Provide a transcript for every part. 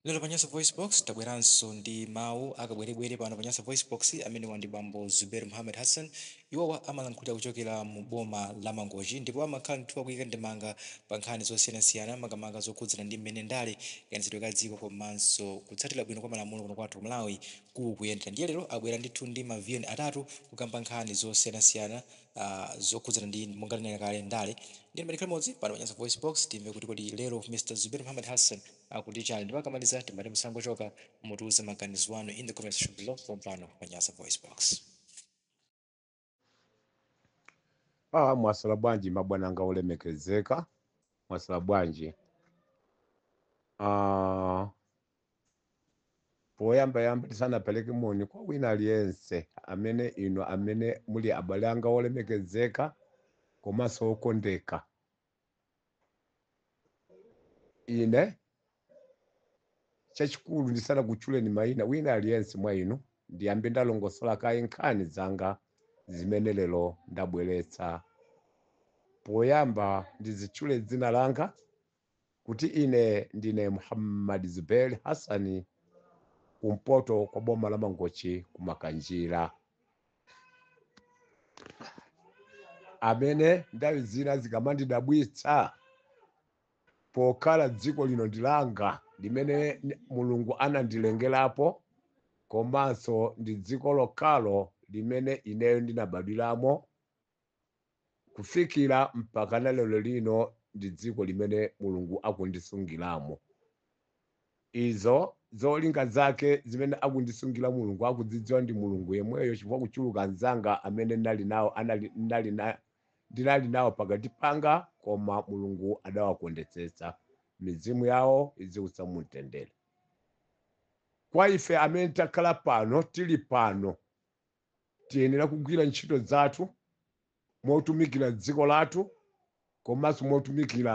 Lero pa Nyasa VoiceBox, tabweranso ndi mawu a kabwerebwere pano pa Nyasa VoiceBox. Amenewa ndi bambo Zubeir Muhammad Hassan. Iwowa amalankhulira kuchokera mu boma la Mangochi ndipo amakhala ndithu akuyika ndemanga pa nkhani zosiyanasiyana makamaka zokhudzana ndi mmene ndale, kayendetsedwe ka dziko komanso kutsatira bwino kwa malamulo kuno kwathu ku Malawi kukuyendera. Ndiye lero abwera ndithu ndi ma VN atatu kukamba nkhani zosiyanasiyana ah zokhudzana ndi monga tanena kale ndale. Ndiye tikhale limodzi pano pa Nyasa VoiceBox timve kuti kodi lero Mr Zubeir Muhammad Hassan akuti chani ndipo akamaliza timati musangochoka mutiuze maganizo anu in the comment section below pompano pa nyasa voice box Ah, mwaswera bwanji mabwana anga olemekezeka mwaswera bwanji ah, poyamba yamba tisanapereke moni kwa wina aliyense amene ino amene muli abale anga olemekezeka komanso okondeka ine chachikulu ndisanakutchuleni mayina wina aliyense mwa inu ndiyambe ndalongosola kaye nkhani zanga zimene lero ndabweretsa poyamba ndidzitchule dzina langa kuti ine ndine muhammad zubair hassani kumpoto kwa boma la mangochi kumakanjira amene nthawi zina zikamandidabwitsa pokhala dziko lino ndilanga limene mulungu anandilengerapo komanso ndi dziko lokhalo limene ineyo ndinabadwiramo kufikira mpakana lero lino ndi dziko limene Mulungu akundisungiramo. Izo zolinga zake zimene akundisungira Mulungu akuzidziwa ndi Mulungu yemweyo chifukwa kuchuluka anzanga amene ndinali nawo anali ndinali na ndinali nawo pakati panga koma Mulungu adawakondetsetsa mizimu yawo iziusa mu mtendere. Kwa ife amene takhala pano tili pano tiyenera kugwira ntchito zathu motumikira dziko lathu komanso motumikira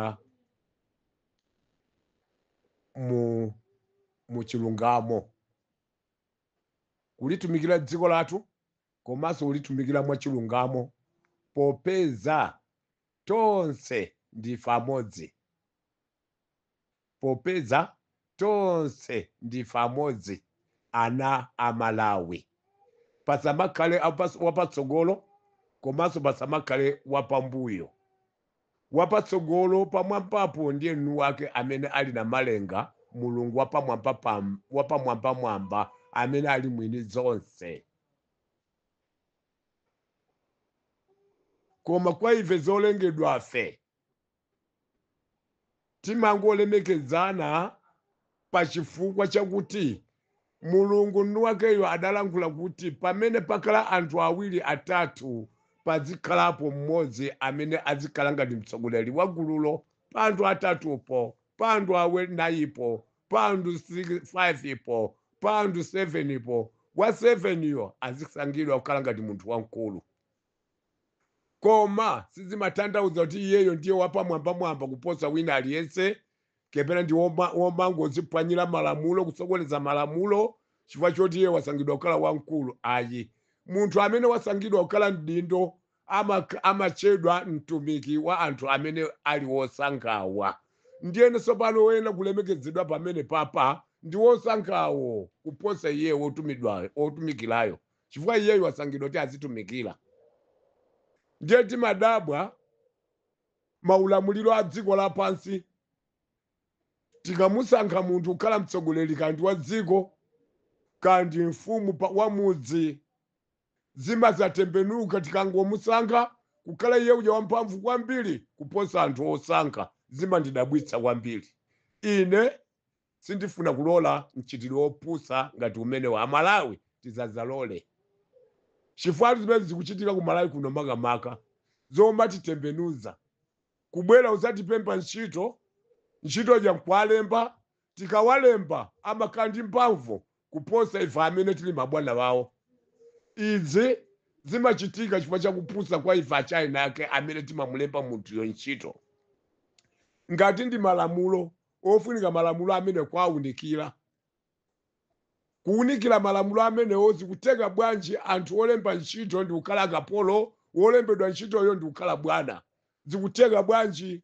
mu mu chilungamo kulitumikira dziko lathu komanso kulitumikira mwa chilungamo popeza tonse ndife amodzi Popeza tonse ndife amodzi ana a Malawi pasamakhale wapatsogolo komanso pasamakhale wapambuyo. Wapatsogolo pamwambapo ndiye mwiniwake amene ali Namalenga Mulungu wapamwambamwamba amene ali mwini zonse. Koma kwa ife zolengedwafe. Timangolemekedzana pa chifukwa chakuti Mulungu mwini wakeyo adalankhula kuti pamene pakhala anthu awiri atatu padzikhalapo mmodzi amene adzikhala ngati mtsogoleri wa gululo pa anthu atatupo, pa anthu anayipo, pa anthu 5 po, pa anthu 7 po, wa 7 yo azisankhidwa kukhala ngati munthu wamkulu. koma sizimatanthauza kuti iyeyo ndiye wapamwambamwamba kuposa wina aliyense kapena ndi woma- womangoziphwanyira malamulo kusokoneza malamulo chifukwa choti iye wasankhidwa kukhala wamkulu ayi munthu amene wasankhidwa kukhala mdindo ama- amatchedwa mtumiki wa anthu amene ali wosankhawa ndiye tsopano woyenera kulemekezedwa pamenepapa ndi wosankhawo kuposa iye wotumidwayo wotumikirayo chifukwa iyeyu wasankhidwa kuti azitumikira ndiye timadabwa maulamuliro a dziko lapansi tikamusankha munthu kukhala mtsogoleri kandi wa dziko kandi mfumu pa- wa mudzi zimadzatembenuka tikangomusankha kukhala iye uja wamphamvu kwambiri kuposa anthu osankha zimandidabwitsa kwambiri ine Sindifuna kulola mchitidwe wopusa ngati umenewu. A Malawi tisadzalole. Chifukwa zimene zikuchitika ku Malawi kuno makamaka zomatitembenuza. Kubwera kudzatipempha ntchito, ntchito ija nkuwalemba, tikawalemba amakhala ndi mphamvu kuposa ife amene tili mabwana awo. Izi zimachitika chifukwa cha kupusa kwa ife achina ake amene timamulemba munthuyo ntchito. Ngati ndi malamulo ofunika malamulo amene kuwaunikira. Kuwunikira malamulo amenewo zikutheka bwanji anthu olemba ntchito ndi kukhala kapolo, wolembedwa ntchitoyo ndi kukhala bwana? Zikutheka bwanji?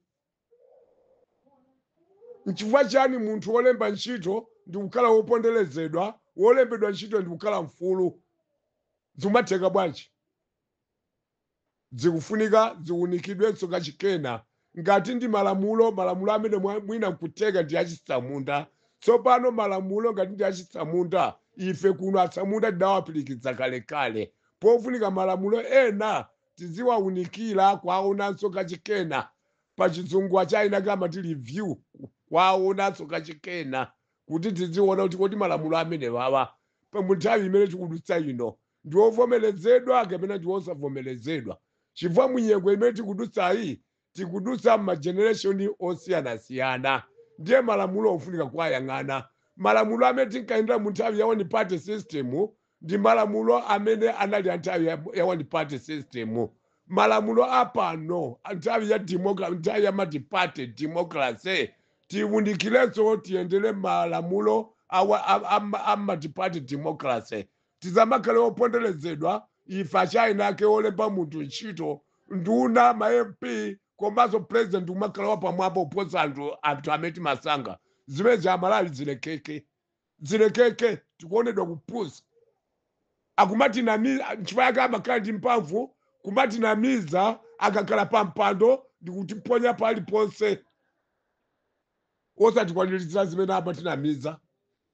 Nchifukwa chiyani munthu wolemba ntchito ndi kukhala woponderezedwa, wolembedwa ntchito ndi kukhala mfulu? Zikumatheka bwanji? Zikufunika ziunikidwenso kachikena ngati ndi malamulo, malamulo amene mwa- mwina nkutheka ndi achitsamunda. Tsopano malamulo ngati ndi achitsamunda, ife kuno atsamunda tidawapirikitsa kalekale. Pofunika malamulo ena tiziwaunikira, kuwaonanso kachikena. Pachizungu achina ake amati review, kuwaonanso kachikena kuti tiziona kuti kodi malamulo amenewawa pa- munthawi imene tikudutsa ino ndi wovomerezedwa kapena ndi wosavomerezedwa chifukwa munyengo imene tikudutsayi tikudutsa m'majenereshoni osiyanasiyana ndiye malamulo ofunika kuwayang'ana malamulo amene tinkayendera mu nthawi ya one party system ndi malamulo amene anali a nthawi ya- ya one party system malamulo apano a nthawi ya demoka- nthawi ya multiparty democracy tiwunikirenso tiyendere malamulo awa- a- a- a multiparty democracy Tisamakhale oponderezedwa ife achaina ake olemba munthu ntchito, nduna, ma MP komanso president n'kumakhala wapamwamba kuposa anthu anthu amene timasankha. Zimenezi Amalawi zilekeke. Zilekeke. Tikuonedwa kupusa. Akumatinamiza nchifukwa chake amakhala ndi mphamvu kumatinamiza akakhala pampando ndi kutiponya paliponse. Osatikwaniritsira zimene amatinamiza.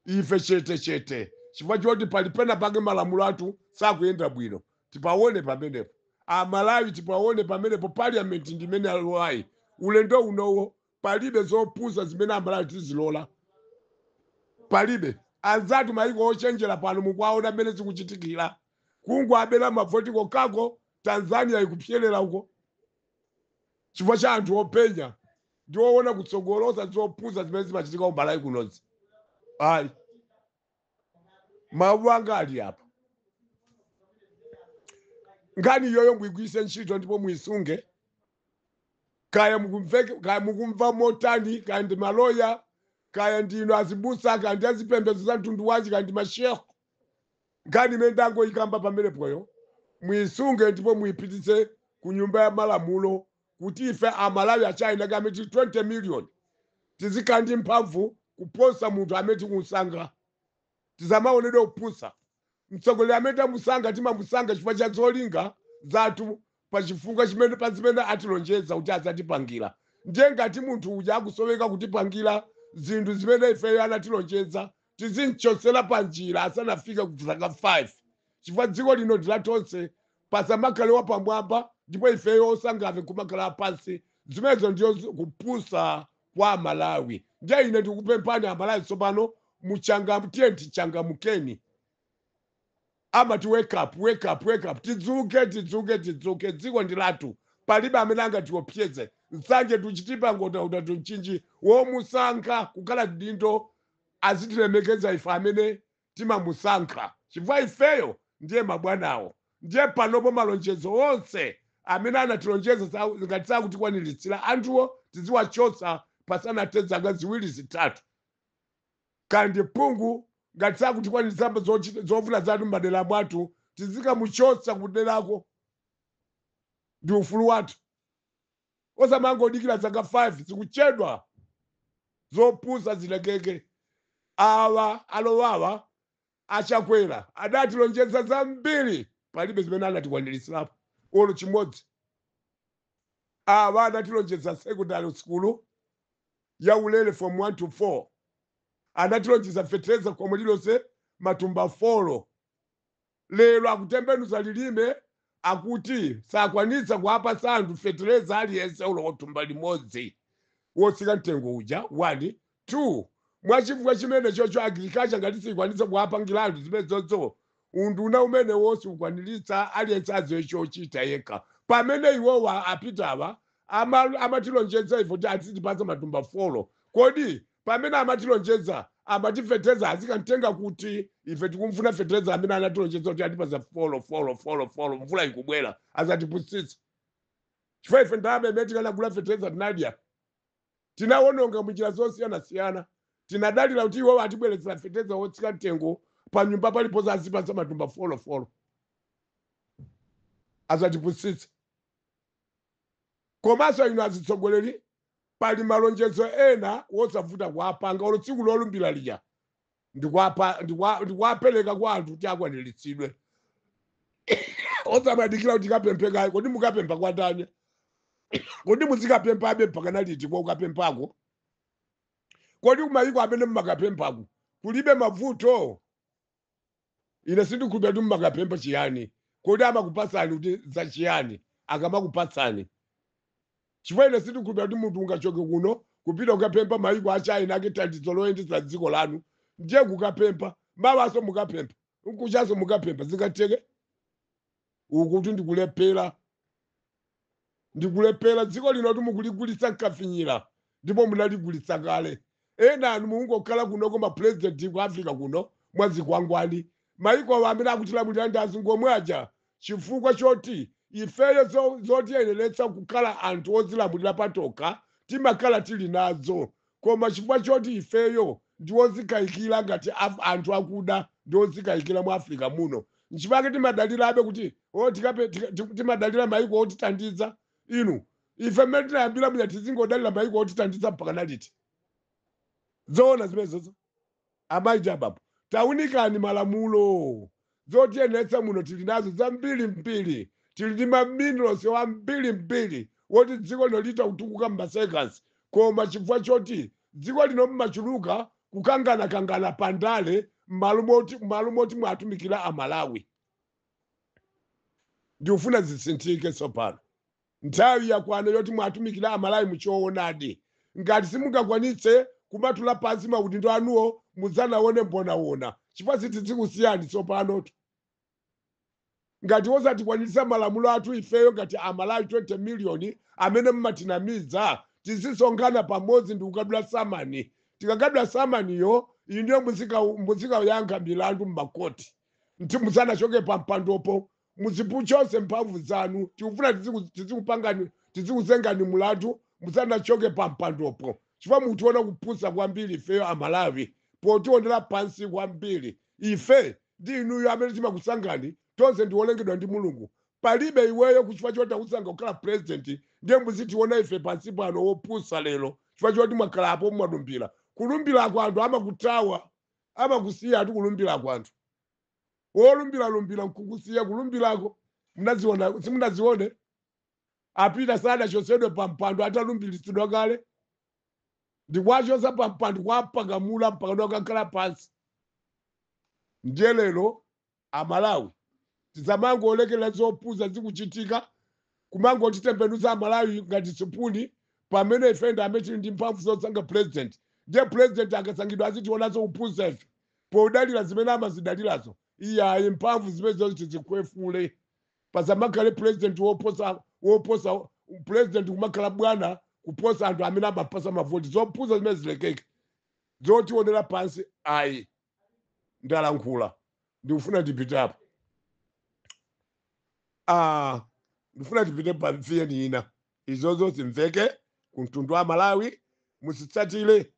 ife chete chete chifukwa choti pali pena pake malamulo athu sakuyenda bwino tipaone pamenepo amalawi tipaone pamenepo parliament ndi imene alowayi ulendo unowo palibe zopusa zimene amalawi tizilola palibe anzathu maiko ochenjera pano mukuwaona mmene zikuchitikira kungwabera mavoti kokako tanzania ikupyerera uko chifukwa cha anthu openya ndi owona kutsogolo osati zopusa zimene zimachitika ku malawi kunozi ayi mawu anga ali apa nkhani iyoyo muigwiritse ntchito ndipo muisunge kaya mukumveke- kaya mukumva motani kaya ndi maloya kaya ndinu azibusa kaya ndi azipembedzo za mtundu wanji kaya ndi mashehe nkhani imene ndangoyikamba pamenepoyo muyisunge ndipo muyipititse ku nyumba ya malamulo kuti ife amalawi achaina ake amene tili 20 million tizikhala ndi mphamvu kuposa munthu amene tikumsankha tisamaonedwe kupusa mtsogoleri amene tamusankha timamusankha chifukwa cha zolinga zathu pa chifukwa chimene pa zimene atilonjeza kuti adzatipangira ndiye ngati munthu uja akusowekera kutipangira zinthu zimene ifeyo anatilonjeza tizim'chotsera panjira asanafike ku zaka 5 chifukwa dziko lino ndi la tonse pasamakhale wapamwamba ndipo ifeyo osankhafe kumakhala apansi zimenezo ndiyo zi- kupusa kwa amalawi ndiye ine ndikupemphani amalawi tsopano muchanga tiye tichangamukeni amati wake up, wake up, wake up, tidzuke, tidzuke, tidzuke, dziko ndi lathu, palibe amene angatiopseze, Nsanje to Chitipa, Nkhotakota to Mchinji, womusankha kukhala mdindo azitilemekeza ife amene timamusankha, chifukwa ifeyo ndiye mabwanawo, ndiye panopo malonjezo onse amene anatilonjeza sa- ngati sakutikwaniritsira anthuwo tiziwachotsa pasanathe zaka ziwiri zitatu. Kaya ndi phungu ngati sakutikwaniritsa zofuna zathu mmadera mwathu tizikamuchotsa kuderako ndi ufulu wathu osamangodikira zaka 5 zikuchedwa zopusa zilekeke awa alowawa A Chakwera adatilonjeza zambiri palibe zimene anatikwaniritsirapo olo chimodzi. Awa anatilonjeza secondary sukulu ya ulere form 1 to 4. Anatilonjeza fetereza khomo lilonse matumba folo. Lero akutembenuza lilime akuti sakwanitsa kuwapatsa anthu fetereza aliyense olo thumba limodzi wotsika mtengo uja 1 2 mwachifukwa chimene chocho agriculture ngati sikwanitsa kuwapangira anthu zimenezozo unduna umenewo siukwaniritsa aliyense adziwe chochita yekha pamene iwowa apitawa ama- amatilonjeza ife kuti azitipatsa matumba folo kodi pamene amatilonjeza amati feteleza azikamtenga kuti ife tikumfuna feteleza amene anatilonjeza kuti atipasa folo folo folo folo mvula ikubwera azatipusitsa chifukwa ife ndalama imene tikanagula feteleza tinadya tinawononga munjira zosiyanasiyana tinadalira kuti iwo atibweretsera feteleza wotsika mtengo pa nyumba paliponse azipasa matumba folo folo azatipusitsa komanso inu azitsogoleri Pali malonjezo ena wosavuta kuwapanga olo tsiku lolumbila lija ndikuwapa- ndikuwa- ndikuwapeleka kwa anthu kuti akwanilitsidwe osamadikila kuti tikapemphe kaye kodi mukapempha kwa ndani kodi muzikapemphabe mpakana liti kwa ukapemphako kodi kumayiko amene mumakapemphako kulibe mavuto ine sindikhulupira kuti mumakapempha chiyani kodi amakupatsani kuti za chiyani akamakupatsani chifukwa ine sindikhulupira kuti munthu ungachoke kuno kupita kukapempha mayiko a china ake thandizo loyendetsa dziko lanu ndiye kukapempha mawanso mukapempha nkuchanso mukapempha zingatheke ukutu ndikulephera ndikulephera dziko linotu mukuligulitsa nkafinyira ndipo munaligulitsa kale enanu mukungokhala kunoko mapurezidenti ku africa kuno mwazikwangwani maikowa amene akutilamulira ndi azungu omwe aja chifukwa choti ifeyo zo- zotiyeneretsa kukhala anthu ozilamulira patokha timakhala tili nazo Koma chifukwa choti ifeyo ndi odzikayikira ngati anthu akuda ndi odzikayikira mu Africa muno, nchifukwa chake timadalirabe kuti oh tikape, tika, timadalira maiko otithandiza. Inu, ife mmene tinayambira muja tizingodalira maiko otithandiza mpakana liti? Zoona zimenezozo? Amayi ndi abambo taunikani malamulo. Zotiyeneretsa muno tili nazo zambiri mbiri. Tili ndi ma minerals ambiri mbiri woti dziko lino litha kutukuka mma seconds koma chifukwa choti dziko lino mmachuluka kukangana kangana pa ndale mmalo moti mmalo moti mwatumikira a Malawi. Ndikufuna zisinthike tsopano. Nthawi yakwana yoti muatumikile a Malawi mu choonadi. Ngati simungakwanitse kumatula pansi maudindo anuwo mudzanaone mbonaona chifukwa sitidzikusiyani tsopano. Ngati osatikwaniritsa malamulo athu ifeyo ngati a Malawi 20 million amene mumatinamiza tizisonkhana pamodzi ndi kukadula samani. Tikakadula samaniyo inuyo muzikayankha milandu mmakoti musanachoke pa mpandopo. muzikuchotsedwa mphamvu zanu tikufuna tiziku- tizikupangani tizikuzengani mulandu musanachoke pa mpandopo chifukwa mukutiona kupusa kwambiri ifeyo amalawi potionera pansi kwambiri ife ndi inuyo amene timakusangani tonse ndiwolengedwa ndi mulungu palibe iweyo kuchifukwa choti takusankha kukhala purezidenti ndiye muzitiona ife pansi pano wopusa lero chifukwa choti mwakhala apo mwalumbira kulumbira kwa anthu amakutawa amakusiya ati kulumbira kwa anthu wolumbilalumbila nkukusiya kulumbilako munaziona simunazione a Peter sadachotsedwe pa mpando atalumbilitsidwa kale ndikuwachotsa pa mpando kuwaphakamula mpaka akakhala pansi ndiye lero amalawi tisamangolekera zopusa zikuchitika kumangotitembenuza amalawi ngati sipuni pamene ife ndi amene tili ndi mphamvu zosankha president ndiye president akasankhidwa azitiwonanso kupusa ife podalira zimene amazidalirazo iyayi mphamvu zimenezo tizikhwefula pasamakhale president woposa woposa president kumakhala bwana kuposa anthu amene amampatsa mavoti zopusa zimene zilekeke zotionera pansi ayi ndalankhula ndikufuna ndipitapo ah, ndifuna tipite pa vn ina izozo zimveke ku mtundu wa malawi muzitsatire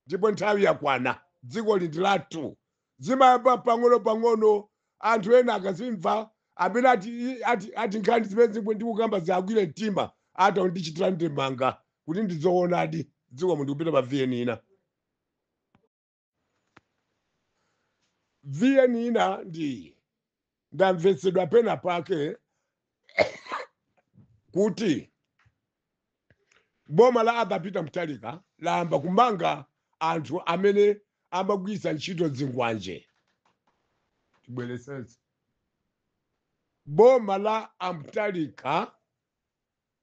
ndipo nthawi yakwana dzikoli ndi lathu zimayamba pang'ono pang'ono anthu ena akazimva amene ati, ati, ati nkhani zimenezi zomwe ndikukamba ziwagwire mtima atha kundichitira ndemanga kuti ndizoonadi dziko muno ndikupita pa vn ina vn ina ndi iyi ndamvetsedwa pena pake kuti boma la Arthur Peter Mutharika layamba kumanga anthu amene amagwiritsa ntchito zikwanje tibwerezenso boma la a Mutharika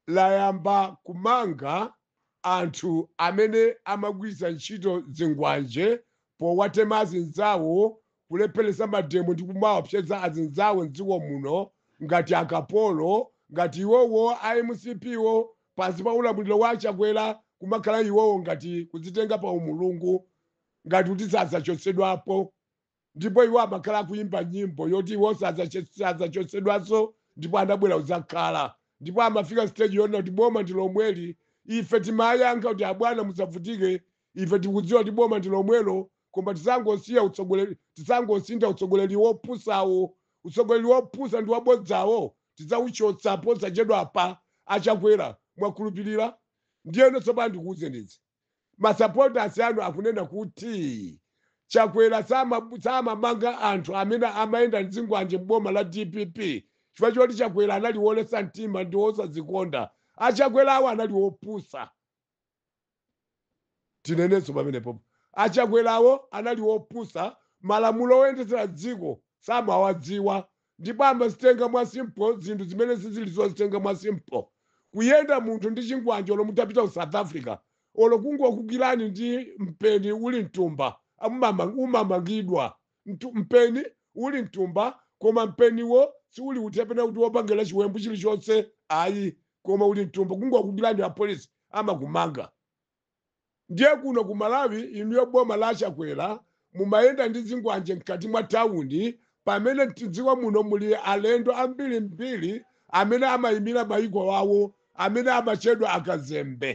layamba kumanga anthu amene amagwiritsa ntchito zingwanje powatema azinzawo, kulepheretsa mademo ndi kumaopseza azinzawo m'dziko muno ngati akapolo, ngati iwowo a mcp wo pansi pa ulamuliro wa a Chakwera kumakhala iwowo ngati kudzitenga pa umulungu ngati kuti sadzachotsedwapo. ndipo iwo amakhala akuyimba nyimbo yoti iwo sadzachotsedwanso ndipo anabwera kudzakhala ndipo amafika stage yonena kuti boma ndi lomweli ife timayankha kuti abwana musavutike ife tikudziwa kuti boma ndi lomwelo koma tisangosiya utsogoleri tisangosintha utsogoleri wopusawo utsogoleri wopusa ndi wabodzawo tidzauchotsa posachedwapa achakwera mwakhulupirira ndiyeno tsopano ndikuwuzenizi masupporters anu akunena kuti chakwera sama- samamanga anthu amene amayenda ndi zingwanje m'boma la dpp chifukwa choti chakwera anali wolesa mtima ndi wosazikonda achakwerawo anali wopusa tinenenso pamenepo achakwerawo anali wopusa malamulo oyendetsera dziko samawadziwa ndipo amazitenga mwa simple zinthu zimene sizili zozitenga mwa simple kuyenda munthu ndi chingwanje olo mutapita ku south africa olo kungokugwira ndi mpeni uli mtumba umamangidwa mpeni uli mtumba koma mpeniwo siuli uti kapena kuti wopangira chiwembu chilichonse ayi koma uli mtumba kungokugwira apolisi amakumanga Ndiye kuno ku Malawi inuyo boma la Chakwera mumayenda ndi zingwanje mkati mwa town pamene mdziko muno muli alendo ambirimbiri amene amayimira mayiko awo amene amatchedwa akazembe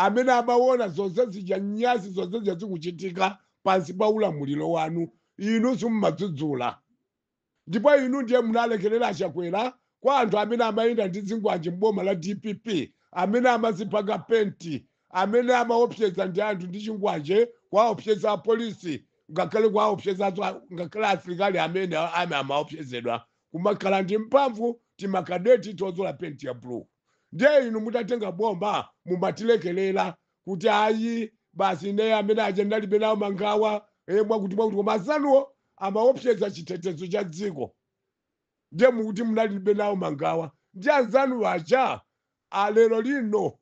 amene amawona zonse zija nyasi zonse zija zikuchitika pansi pa ulamuliro wanu inu simumadzudzula. Ndipo inu ndiye munalekelera a Chakwera kwa anthu amene amayenda ndi zingwanje m'boma la dpp, amene amazipaka penti, amene amaopseza ndi anthu ndi chingwanje, kuwaopseza apolisi, ngakhale kuwaopseza ngakhale asilikali amene amaopsezedwa kumakhala ndi mphamvu timakadeti tozola penti ya blue. Ndiye inu mutatenga boma mumatilekelera kuti ayi basi ine amene aja ndalibe nawo mangawa e, mwakuti mwakuti koma anzanuwo amaopseza chitetezo cha dziko ndiye mukuti munalibe nawo mangawa ndi anzanu aja alero lino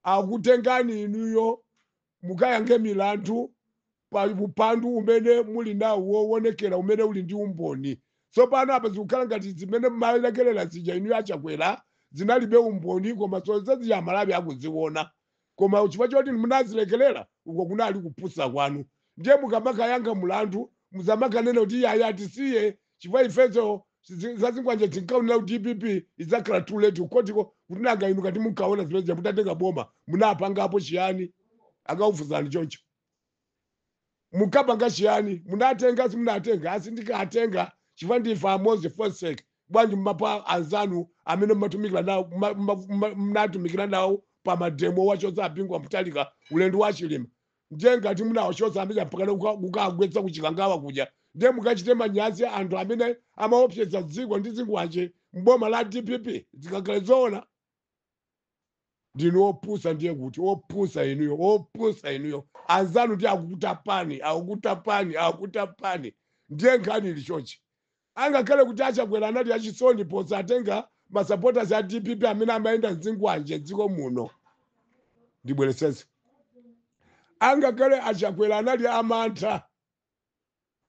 akutengani inuyo mukayankhe milandu Pa upandu umene muli nawo wowonekera umene uli ndi umboni. Tsopano apa zikukhala ngati zimene mumalekelera zija inuyo a Chakwera zinalibe umboni koma zonse zija a Malawi akuziwona. Koma chifukwa choti inu munazilekelera, uko kunali kupusa kwanu. Ndiye mukamakayankha mulandu musamakanene kuti iyayi atisiye chifukwa ifenso zi- za zikwanje tinkaonera ku DPP idzakhala too late kukhotiko kuti nanga inu ngati munkaona zimene zija mutatenga boma munapangapo chiyani? Akaufuzani choncho. munkapanga chiyani munatenga simunatenga asindikatenga chifukwa ndife amodzi for sake bwanji mumapa anzanu amene mumatumikira nawo muma- muma- muma- munatumikira nawo pa mademo mwachotsa a Bingu wa Mutharika ulendo wa chilima ndiye ngati munawachotsa amene apakana kuka- kukagwetsa kuchikangawa kuja ndiye mukachite manyazi anthu amene amaopseza dziko ndi zingwanje mboma la dpp zikakhala zoona ndinu opusa ndiye kuti opusa inuyo opusa inuyo anzanu ndi akutapani akukutapani akukutapani ndiye nkhani ili chonchi angakhale kuti achakwera anali achisoni posatenga masupporters a dpp amene amayenda ndi zingwanje dziko muno ndibwerezenso angakhale achakwera anali amantha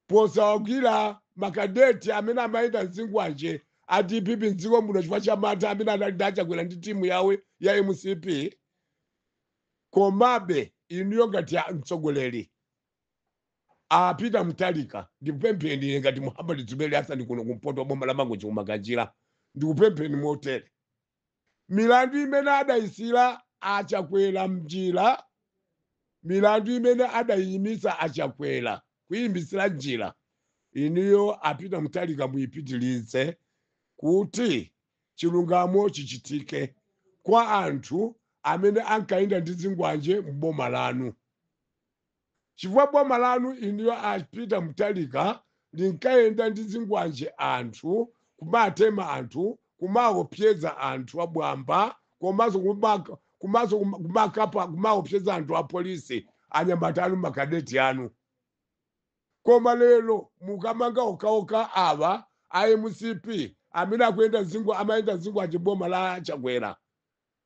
posawagwira makadeti amene amayenda ndi zingwanje a dpp mdziko muno chifukwa cha mantha amene anali ndi achakwera ndi timu yawo ya mcp komabe inuyo ngati a- mtsogoleri a Peter Mutharika ndikupempheni ine ngati Muhammad Zuberi Hassan kuno kumpoto kwa boma la mangochi kumakanjira ndikupempheni motere Milandu imene adaisiyira a Chakwera m'njira Milandu imene adaiimitsa a Chakwera kuiimitsira m'njira inuyo a Peter Mutharika muipitirize kuti chilungamo chichitike kwa anthu amene ankayenda ndi zingwanje m'boma lanu. chifukwa boma lanu inuyo a Peter Mutharika linkayenda ndi zingwanje anthu, kumatema anthu, kumaopseza anthu wamba komanso kumaka- komanso kuma- kumakapa kumaopseza anthu a polisi anyamata anu makadeti anu koma lero mukamanga okaoka awa a mcp amene akuyenda zingwa- amayenda zingwanje boma la chakwera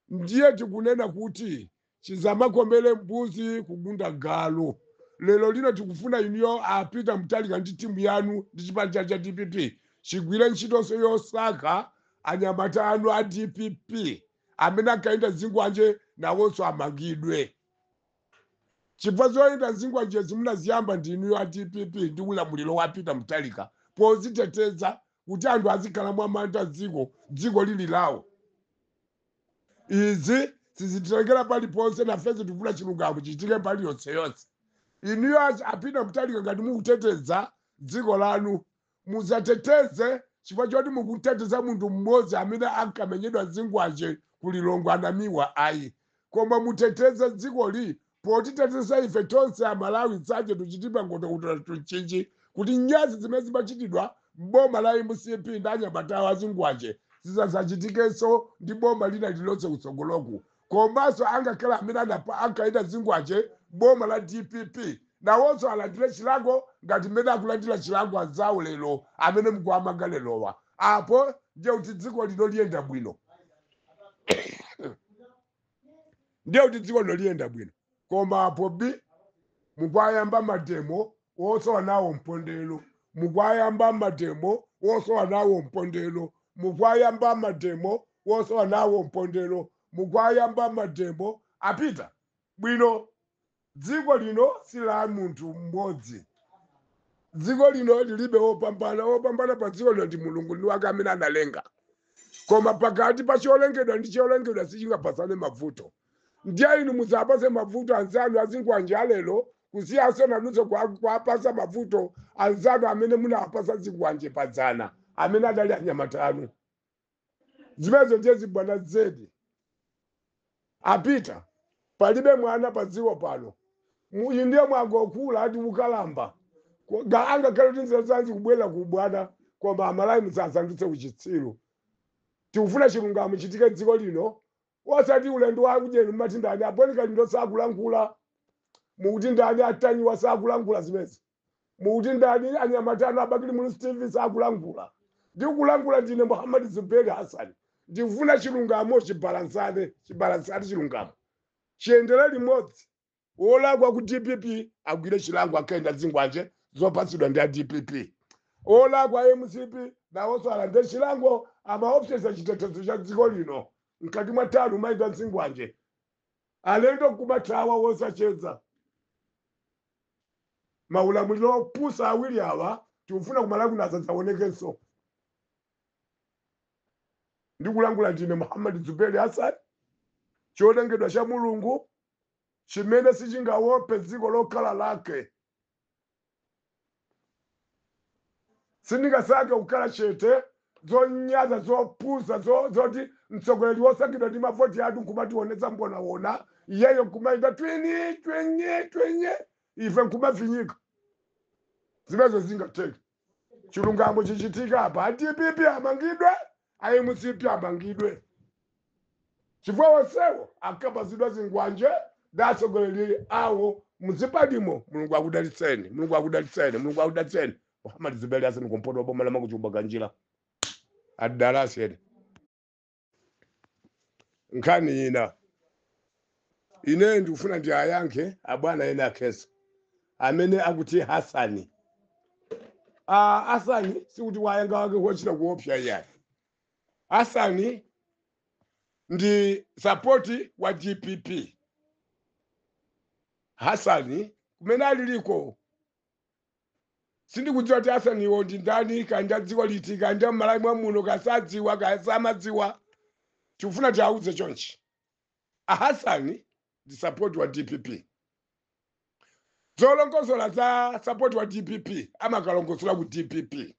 Ndiye tikunena kuti chisamakomere mbuzi kugunda galu. Lero lino tikufuna inuyo a Peter Mutharika ndi timu yanu ndi chipani chanu cha dpp chigwire ntchitonso yosaka anyamata anu a dpp amene ankayenda zingwanje nawonso amangidwe chifukwa zoyenda zingwanjezi munaziyamba ndi inuyo a dpp ndi ulamuliro wa Peter Mutharika poziteteza kuti anthu azikhala mwamantha dziko dziko lili lawo izi sizititengera paliponse nafenso tikufuna chilungamo chichitike mbali yonseyonse inuyo achi- a peter mutharika ngati mukuteteza dziko lanu musateteze chifukwa choti mukuteteza munthu mmodzi amene ankamenyedwa zikwanje ku lilongwe a namiwa ayi koma muteteze dzikoli Potiteteza ife tonse a Malawi tsache tuchitipa ngoto utola tunchinchi kuti nyansi zimene zimachitidwa m'boma la mcp ndi anyamata awo azikwanje zisazachitikenso ndi boma lina lililonse kutsogoloku. Komanso angakhale amene ankayenda zikwanje m'boma la dpp nawonso alandire chilango ngati mmene akulandira chilango anzawo lero amene mukuwamanga lerowa. Apo ndiye kuti dziko lino liyenda bwino. ndiye kuti dziko lino liyenda bwino koma apo bi mukwayamba mademo wosowa nawo mpondero mukwayamba mademo wosowa nawo mpondero mukwayamba mademo wosowa nawo mpondero mukwayamba mademo apita bwino Dziko lino si la munthu mmodzi. Dziko lino lilibe wopambana. Wopambana pa dziko lino ndi Mulungu, ndi wake amene analenga. Koma pakati pa cholengedwa ndi cholengedwa sichingapatsane mavuto. Ndiye inu musapatse mavuto anzanu azikwanje a lero kusiyanso nanunso kwa- kuwapatsa mavuto anzanu amene munawapatsa zikwanje padzana, amene adali anyamata anu. zimenezo ndiye zibwana zedi a peter palibe mwana pa dziko pano Mu- inu ndiye mwangokula ndi ukalamba Ko- ga- angakhale kuti nzeru zanji kubwera ku ubwana koma amalawi musasandutse uchitsiru tikufuna chilungamo chichitike dziko lino osati ulendo wa ujeni mumati ndani a bon kalindo sakulankhula mukuti ndani a ntanyiwa sakulankhula zimenezi mukuti ndani anyamata anu a bakili muluzi tv sakulankhula ndikulankhula ndine muhammad zuberi hassan ndikufuna chilungamo chibalansane chibalansane chilungamo chiyendere limodzi wolakwa ku dpp agwire chilango ankayenda zikwanje zopatsidwa ndi a dpp wolakwa a mcp nawonso alandire chilango amaopseza chitetezo cha dziko lino mkati mwa tauni kumayenda zikwanje Alendo nkumathawa osacheza. Maulamuliro opusa awiri awa tikufuna ku Malawi kuno asadzaonekenso. Ndikulankhula ndine Muhammad Zuberi Hassan, cholengedwa cha Mulungu chimene sichingaope dziko lokhala lake Sindingasankhe kukhala chete, zonyansa zopusa zo, zoti mtsogoleri wosankhidwa ndi mavoti athu nkumationetsa mbonawona, iyeyo nkumaita twini twinyi twinyi, ife nkumafinyika. Zimenezo sizingatheke. chilungamo chichitike apa a dpp amangidwe a mcp amangidwe chifukwa onsewo ankapatsidwa zikwanje ndi atsogoleri awo m'zipanimo mulungu akudalitseni mulungu akudalitseni mulungu akudalitseni muhammad zuberi hassan kumpoto boma la mangochi makanjira adala asiyeni nkhani ina ineyo ndikufuna ndiwayankhe abwana ena akhesa amene akuti hasani Ah, hasani sikuti wanyanga wake wochita kuopsa iyayi hasani ndi sapoti wa dpp hasani kumene aliliko sindikudziwa kuti hasaniwo ndi ndani kaya ndi adziko liti kaya ndi a m'malawi mwa muno kaya sadziwa kaya samadziwa tikufuna tiauze chonchi ahasani ndi sapoti wa dpp zolongosola za sapoti wa dpp amakalongosola ku dpp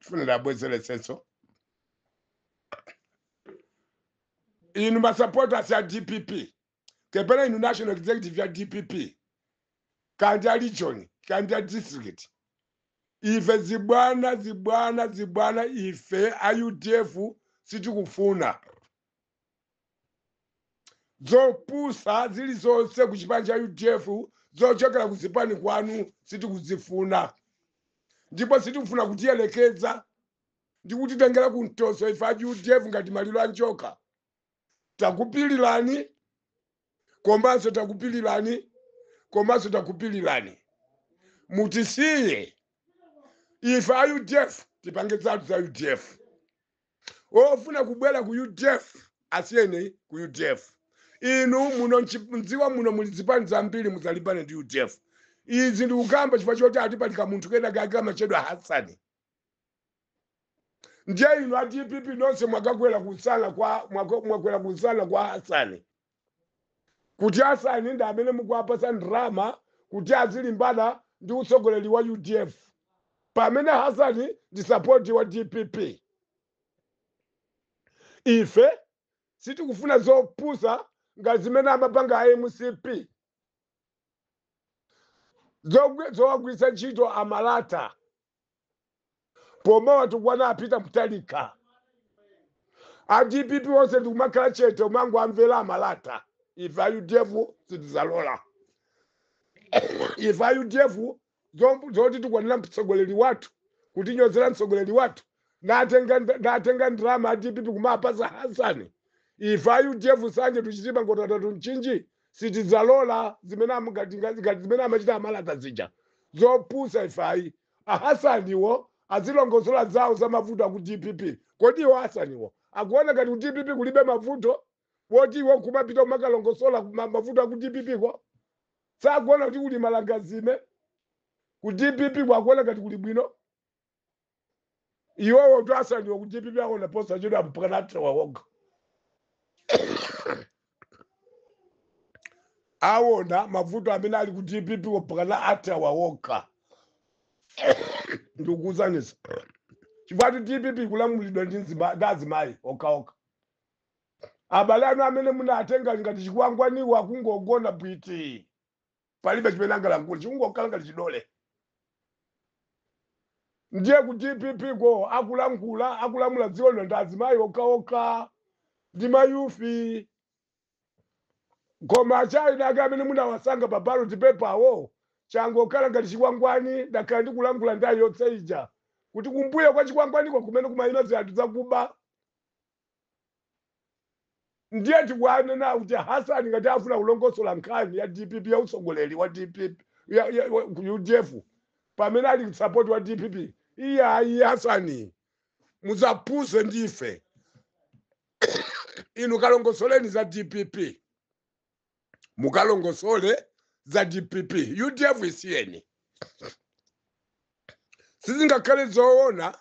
tifuna tibwerezenso inu masapotasi a dpp kapena inu national executive ya dpp kaya ndi a region kaya ndi a district ife zibwana zibwana zibwana ife a udf sitikufuna zopusa zilizonse ku chipani cha udf zochokera ku zipani kwanu sitikuzifuna ndipo sitikufuna kutiyerekeza ndi kutitengera ku mtoso ife a udf ngati maliro a njoka takupilirani komanso takupilirani komanso takupilirani mutisiye ife a udf tipange zathu za udf ofuna kubwera ku udf asiyeni ku udf inu muno mchi- mdziwa muno muli zipani zambiri musalimbane ndi udf izi ndikukamba chifukwa choti ati pali kamunthu kena kake kamatchedwa hasani ndiye inu a dpp nonse mwakakwera kumsana kwa mwako- mwakwera kumsana kwa hasani kuti hasani ndi amene mukuwapasa ndrama kuti azilimbana ndi utsogoleri wa udf pamene hasani ndi sapoti wa dpp ife sitikufuna zopusa ngati zimene amapanga a mcp zogwi- zowagwiritsa ntchito amalata pomawatukwana a peter mutharika a dpp onse ndikumakhala chete kumangowamvera amalata ife a udf sitizalola ife a udf zom- zotitukwanira mtsogoleri wathu kutinyozera mtsogoleri wathu natenga natenga ndrama a dpp kumapasa hasani ife a udf nsanje to chitipa nkhotakota to mchinji sitidzalola zimene am- ngati ngati ngati zimene amachita amalata zija zopusa ife ayi ahasaniwo azilongosola zawo za mavuto aku dpp kodi iwo hasaniwo akuona ngati ku dpp kulibe mavuto woti iwo kumapita kumakalongosola ma- mavuto aku dpp ko sakuona kuti kuli malangazime ku dpp ko akuona ngati kuli bwino iwowo kuti a hasaniwo ku dpp aona posachedwa mpakana athawa okha awona mavuto amene ali ku dpp mpakana athawa okha ndikukusanisa chifukwa kuti dpp ikulamulidwa ndi nzima- ndi azimayi okhaokha abale anu amene munatenga ngati chikwangwaniwo akungogona bwiti palibe chimene angalankhule chikungokhala ngati chidole ndiye ku dpp ko akulankhula akulamula dziko lino ndi azimayi okhaokha ndi mayufi koma achayina ake amene munawasankha pa ballot paper awo changokhala ngati chikwangwani ndakhala ndikulankhula nthawi yonse ija kuti kumbuyo kwa chikwangwaniko kumene kumayima zinthu zakuba ndiye tikunena kuti hasani ngati afuna kulongosola nkhani ya dpp ya utsogoleri wa dpp ya, ya, wa- ku udf pamene ali msapoti wa dpp iyayi hasani muzafunse ndife inu kalongosoleni za dpp mukalongosole za dpp udf isiyeni sizingakhale zoona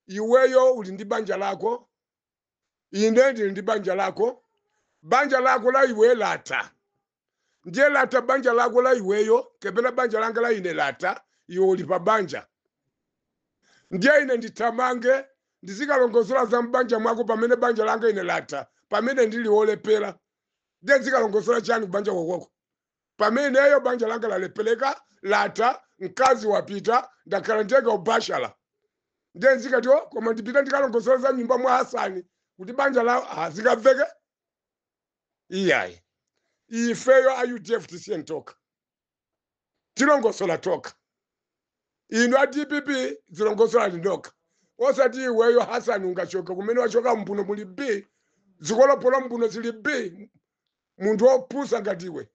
iweyo uli ndi banja lako ine ndili ndi banja lako banja lako la iwe latha ndiye latha banja lako la iweyo kapena banja langa la ine latha iwe uli pa banja ndiye ine ndithamange ndizikalongosola za mbanja mwako pamene banja langa ine latha pamene ndili wolephera ndiye ndizikalongosola chani kubanja kwakoko Pamene ineyo banja langa lalepheleka, latha, mkazi wapita, ndakhala ndekha ubashala ndiye nzikati o koma ndipita ndikalongosola za nyumba mwa Hasani kuti banja lawo ah, zikaveke iyayi ifeyo a udf tisiye tokha tilongosola tokha inu a dpp zilongosolani nokha osati iweyo hasani ungachoke kumene wachoka mbuno muli b zikolopolo mbuno zili b munthu wopusa ngati iwe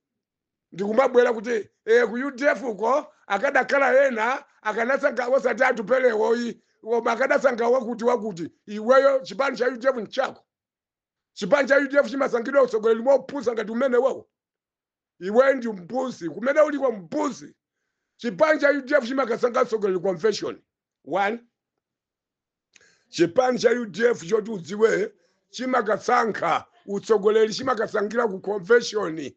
ndikumabwera kuti eh, ku udf uko akadakhala ena akanasankha osati atupelewoyi koma akadasankha wakuti wakuti iweyo chipani cha udf nchako chipani cha udf chimasankhidwa utsogoleri mopusa ngati mmene waowo iwe ndi mbuzi kumene uliko mbuzi chipani cha udf chimakasankha utsogoleri convention one chipani cha udf choti udziwe chimakasankha utsogoleri chimakasankhira ku convention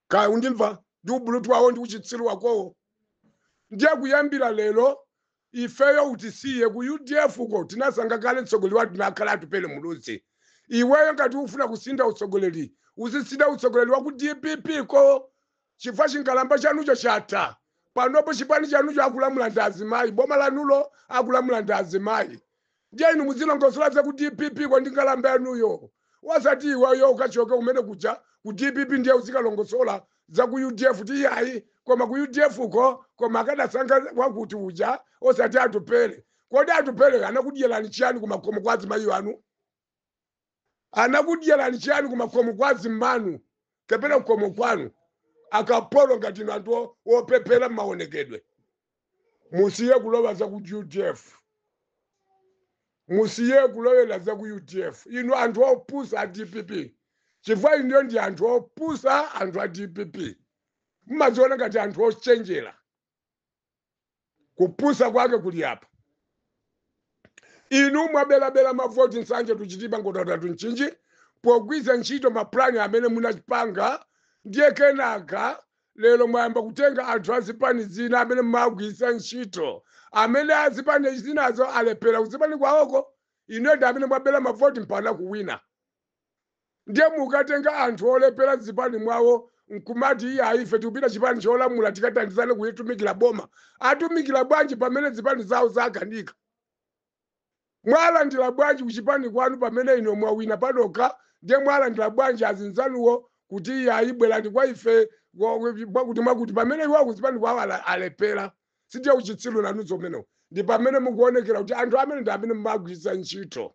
kaya undimva ndi ubulutu wakowo ndi uchitsiru wakowo ndiye kuyambira lero ifeyo utisiye ku udf ko tinasankha kale mtsogoleri wathu anakhala atupele muluzi iweyo ngati ufuna kusintha utsogoleri uzisintha utsogoleri wa ku dpp ko Chifukwa chinkalamba chanucho chatha. Panopo chipani chanucho akulamula ndi azimayi, boma lanulo akulamula ndi azimayi. Ndiye inu muzilongosola za ku dpp ko ndi nkalamba yanuyo. Osati iweyo ukachoke kumene kuja ku dpp ndiye uzikalongosola za ku udf kuti iyayi koma ku udf ko koma akadasankha wakuti uja osati Atupele. Kodi Atupeleyo anakudyerani chiyani kumakhomo kwa azimayi anu? anakudyerani chiyani kumakhomo kwa azimanu kapena kukhomo kwanu akapolo ngati inu anthu o- opephera mmaonekedwe musiye kulowa za ku udf musiye kulowera za ku udf inu anthu opusa a dpp chifukwa inuyo ndi anthu opusa anthu a dpp mmaziona ngati anthu ochenjera kupusa kwake kuli apa inu mwabelabela mavoti Nsanje ku Chitipa mpoto datu Mchinji pogwiza ntchito mapulani amene munachipanga ndiye kenaka lero mwayamba kutenga anthu azipani zina amene mwagwiritsa ntchito amene azipani zinazo alephera kuzipani kwawoko inu ndi amene mwabela mavoti mpana kuwina ndiye mukatenga anthu olephera mzipani mwawo nkumati iya ife tikupita chipani cholamula tikathandizane kuitumikira boma atumikira bwanji pamene zipani zawo zakanika mwalandira bwanji kuchipani kwanu pamene inu mwawina panokha ndiye mwalandira bwanji azinzanuwo kuti iya ayibwerani kwa ife wa- wa- mwakuti mwakuti pamene iwo kuzipani kwawo ala- alephera sindiye uchitsiru nanunso umenewo ndi pamene mukuonekera kuti anthu amenewa ndi amene mumagwiritsa ntchito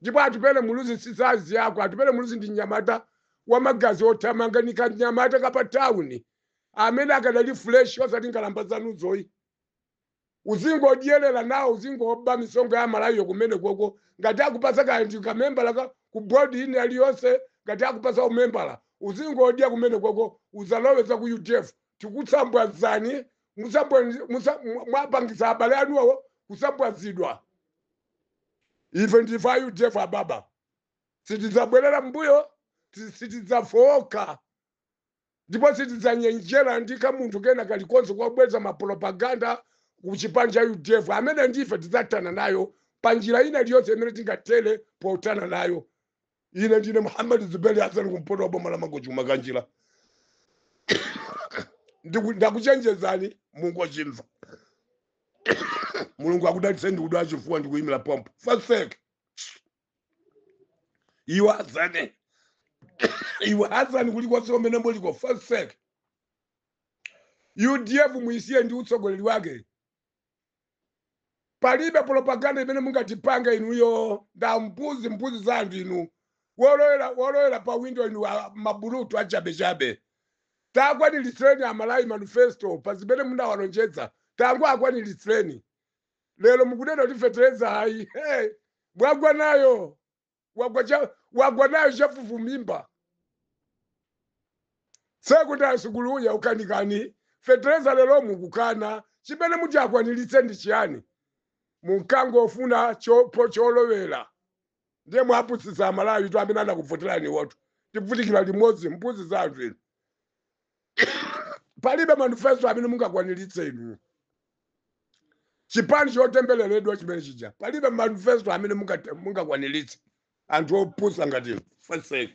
Ndipo Atupele Muluzi si size yako, Atupele Muluzi ndi mnyamata wa magazi othamanga, ndi kamnyamata ka pa town amene akadali fresh osati nkhalamba zanuzo ayi. Uzingodyelera nawo, uzingoba misonkho ya Amalawiyo kumenekoko, ngati akupatsa kaya ndi ka membala ka ku board ina iliyonse, ngati akupatsa u membala, uzingodya kumenekoko, usalowe za ku udf. Tikutswambwazani, mutsambwa, mutsa, mwa, mwapangitsa abale anuwo kutsambwazidwa. Ife ndife a udf ababa, sitidzabwerera m'mbuyo, si- sitidzafowoka ndipo sitidzanjenjemera ndi kamunthu kena kalikonse kobweretsa mapropaganda ku chipani cha udf amenewo ndife tidzathana nayo pa njira ina iliyonse imene tingathere pothana nayo ine ndine muhammad zubeli hasani kumpoto wa boma la mangochi kumakanjira Ndiku- ndakuchenjezani mulungu achimva mulungu akudalitse ndikudwala chifuwa ndikuyimira pompo fotseki iwe hasani iwe hasani kulikonse kumene muliko fotseki udf muisiye ndi utsogoleri wake palibe propaganda imene mungatipanga inuyo nda- mbuzi mbuzi za anthu inu wolowera wolowera pa windo inu a- mabulutu achabechabe takwaniritsirani amalawi manifesto pa zimene munawalonjeza tangowakwaniritsirani lero mukunena kuti fetereza ayi hey, mwagwa nayo wagwa cha wagwa nayo chafufu mimba. Sekondale sukulu yakukanikani fetereza lero mukukana chimene muti mukwanilitse ndi chiyani munkangofuna cholowera ndiye mwapusitsa amalawitu amene anakuvoteraniwotu tivutikira limodzi mbuzi za anthu inu palibe manifesto amene mungakwaniritse inu chipani chotembeleredwa chimene chija palibe manifesto amene mungakwaniritse anthu opusa ngati inu. Faseki.